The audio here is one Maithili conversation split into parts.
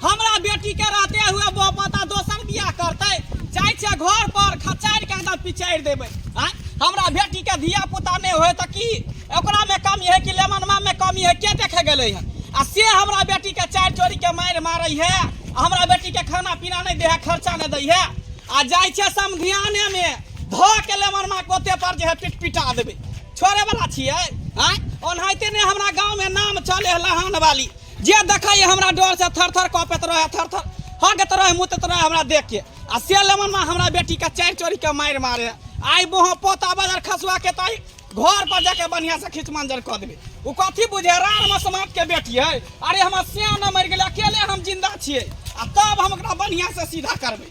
हमरा बेटी के रहते हुए बो पता दोसर बियाह करते जाय छे घर पर खचार के अंदर पिचार देबे हां हमरा बेटी के धिया पुता ने होय त की ओकरा में कमी है कि लेमनमा में कमी है के देखे गेले है आ से हमरा बेटी के चार चोरी के मार मारे है हमरा बेटी के खाना पीना नहीं दे है खर्चा नहीं दे है आ जाय छे समधियाने में धो के लेमनमा कोते पर जे है पिट पिटा देबे छोड़े वाला छियै आय ओनाहिते ने हमरा गांव में नाम चले है लहान वाली जे देखै है हमरा डर से थर थर कपैत रहे थर थर हगत रहे मुतत रहे हमरा देख के आ से लेमन में हमरा बेटी के चार चोरी के मार मारे आई बोह पोता बाजार खसुआ के ताई घर पर जाके बढ़िया से खींच मंजर कर देबे उ कथी बुझे रार में समाज के बेटी है अरे हमर सियान मर गेलै अकेले हम जिंदा छियै आ तब हम ओकरा बढ़िया से सीधा करबै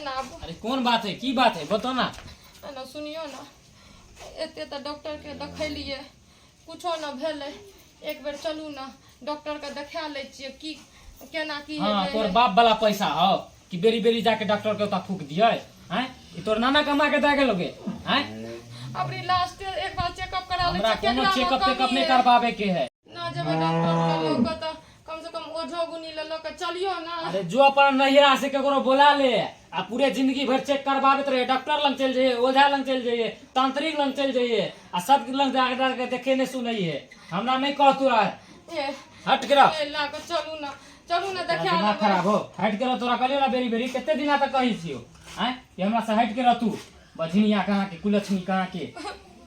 एना आबू अरे कोन बात है की बात है बताओ ना एना सुनियो ना एते तऽ डॉक्टर के देखलिए कुछो ना भेलै एक बेर चलू ना डॉक्टर के देखा लै छियै की केना की हाँ हेतै। तोर बाप वाला पैसा हो कि बेरी बेरी जाके डॉक्टर के ओता फूक दिए हैं ई तोर नाना कमा के दे गेलोगे हैं अपनी लास्ट एक बार चेकअप करा लै हमरा छियै कोनो केकरा मे चेकअप कमी तेकअप नहीं है। करवावे के है ना जेबै डॉक्टर लग लऽ कऽ तऽ कम से कम ओझो गुनी लऽ लऽ कऽ चलियो ना अरे जो अपन नैहरा से ककरो बोला ले आ पूरे जिंदगी भर चेक करबाबैत रहे डॉक्टर लग चल जाइए ओझा लग चल जाइए तांत्रिक लग चल जाइए आ सब लग जाके जाके देखे नहीं सुनैए हमरा नहीं कह तू आज ए हट गिरा ए लऽ कऽ चलू ना चलू ना देखा दिमाग लेबै खराब हो हट के रह तोरा कहलियो ना बेरी बेरी कते दिना तक कहै छियो हैं कि हमरा से हट के रह तू बझिनिया कहाँ के कुलछनी कहाँ के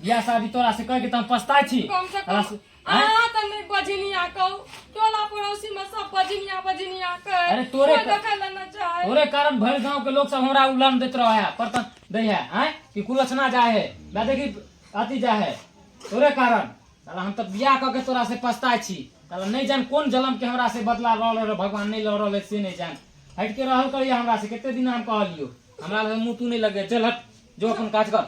बियाह शादी तोरा से कह के त हम पछताय छी कम से तोरा कम से- आँय? अहाँ तऽ नहि बजनिया कहू टोला पड़ोसी मे सब बजनिया बजनिया कहे अरे तोरे कोइ क- देखै लए नहि चाहे तोरे कारण भर गांव के लोग सब हमरा उलान देत रहे है पर त दे है हैं कि कुलचना जाए है ना देखी अति जाए है तोरे कारण साला हम त बियाह क के तोरा से पछताय छी साला नहीं जान कोन जन्म के हमरा से बदला लड़ रहे भगवान नहीं लड़ रहे से नहीं जान हट के रहल करिए हमरा से कते दिन हम कहलियो हमरा लगे मुंह तू नहीं लगे चल हट जो अपन काज कर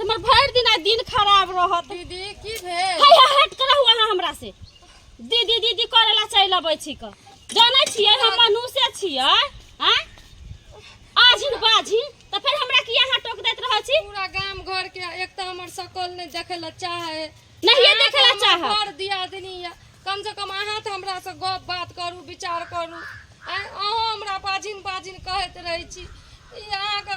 हमर भरि दिन आइ दिन खराब रहत दीदी की भेल हाय हाय हट करहु अहाँ हमरा से दीदी दीदी करे ला चलि अबै छी क जानै छियै हम मनुष्य छियै आ आझिन बाझिन तऽ फेर हमरा किया अहाँ टोक दैत रहै छी पूरा गाम घर के एक तऽ हमर सकल नहि देखे ला चाहे नहिये अहाँ देखे ला तऽ हमर चाहब। बड़ दियादनी यऽ कम से कम अहाँ तऽ हमरा से गप बात करू विचार करू आँय, अहूँ हमरा बाजिन बाजिन कहैत रहै छी ई अहाँके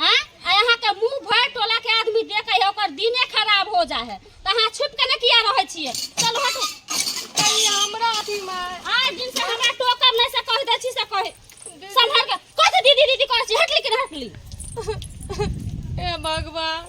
अहाँके मुंह भरि टोला के आदमी देखे है ओकर दिने खराब हो जा है त अहाँ छुप के ने किया रहे छिए चल हट हमरा अथी में आज दिन से हमरा टोकब नहीं से कह दे छी से कह संभल के कह दीदी दीदी कह छी हटली कि हटली ए भगवान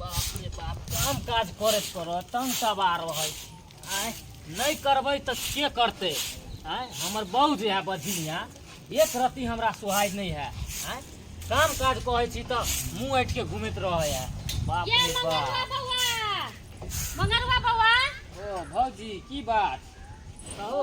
बाप रे बाप काम काज करैत करत तन सवार रहै छी आँय नहि करबै तऽ के करतै आँय हमर बहू जे है बधिनिया एक रत्ती हमरा सुहाय नहि है आँय काम काज कहै छी तऽ मुँह ऐठ के घूमैत रहै है बाप ये रे मंगरुआ बाप बौआ मंगरुआ बौआ ओ भौजी की बात कहू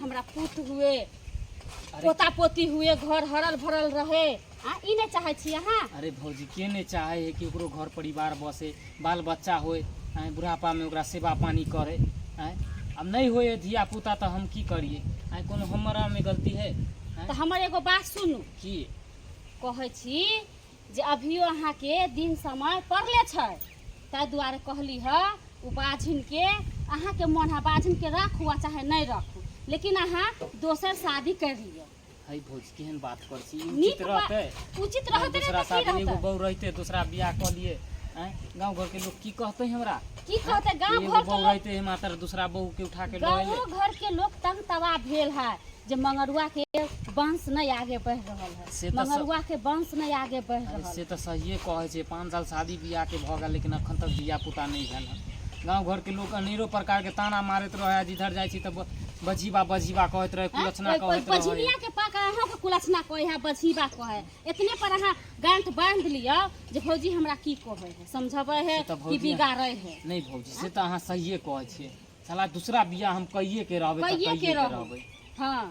हमरा पुत हुए पोता पोती हुए घर हरल भरल रहे आ ई नहि चाहै छी अहाँ अरे भौजी के नहि चाहे है कि ओकरो घर परिवार बसे बाल बच्चा होय आँय, बुढ़ापा में ओकरा सेवा पानी करे आँय अब नहीं होय है धिया पुता तो हम की करिए आँय कोनो हमारा में गलती है आँय, तऽ हमर एगो बात सुनू की कहै छी जे अभियो अहाँके दिन समय पड़ले छै ताहि दुआरे कहली हँ ओ बाझिनके अहाँके मोन है बाझिनके राखू आ चाहे नहि राखू लेकिन अहाँ दोसर शादी कर लिअ है भौजी केहन बात कर छी ई नीक उचित बात- रहतै उचित रहतै ने दूसरा तऽ की शादी एगो रहतै बहू रहते दूसरा बियाह कऽ लिए हैं गांव घर के लोग की कहते हमरा की कहते गाँव एगो घर के बहू लोग रहते है मात्र दूसरा बहू के उठा के गाँव लए घर के लोग तंग तबाह भेल है जे मंगरुआ के वंश नहीं आगे बढ़ रहल है से तऽ स- मंगरुआ के वंश नहि आगे बढ़ि अरे रहल से तऽ सहिए कहै छै पाँच साल शादी बियाहके भऽ गेल लेकिन एखन तक धिया पुता नहि भेल हँ गाँव घरके लोक अनेरो प्रकारके ताना मारैत रहै है जिधर जाइ छी तऽ ब- बजीबा बजीबा कहैत रहै कुलचना कहैत रहै बझिबिया के पाक अहाँ के कुलसना कहे है बझिबा कहे है। इतने पर अहाँ गांठ बांध लियो जे भौजी हमरा की कहे है समझबे है से तऽ कि भौजी- बिगाड़े है नहि भौजी से तऽ अहाँ सहिए कहै छियै साला दूसरा बियाह हम कहिए के रहबै तऽ कहिए कहिए के के रहबै। रहबै हाँ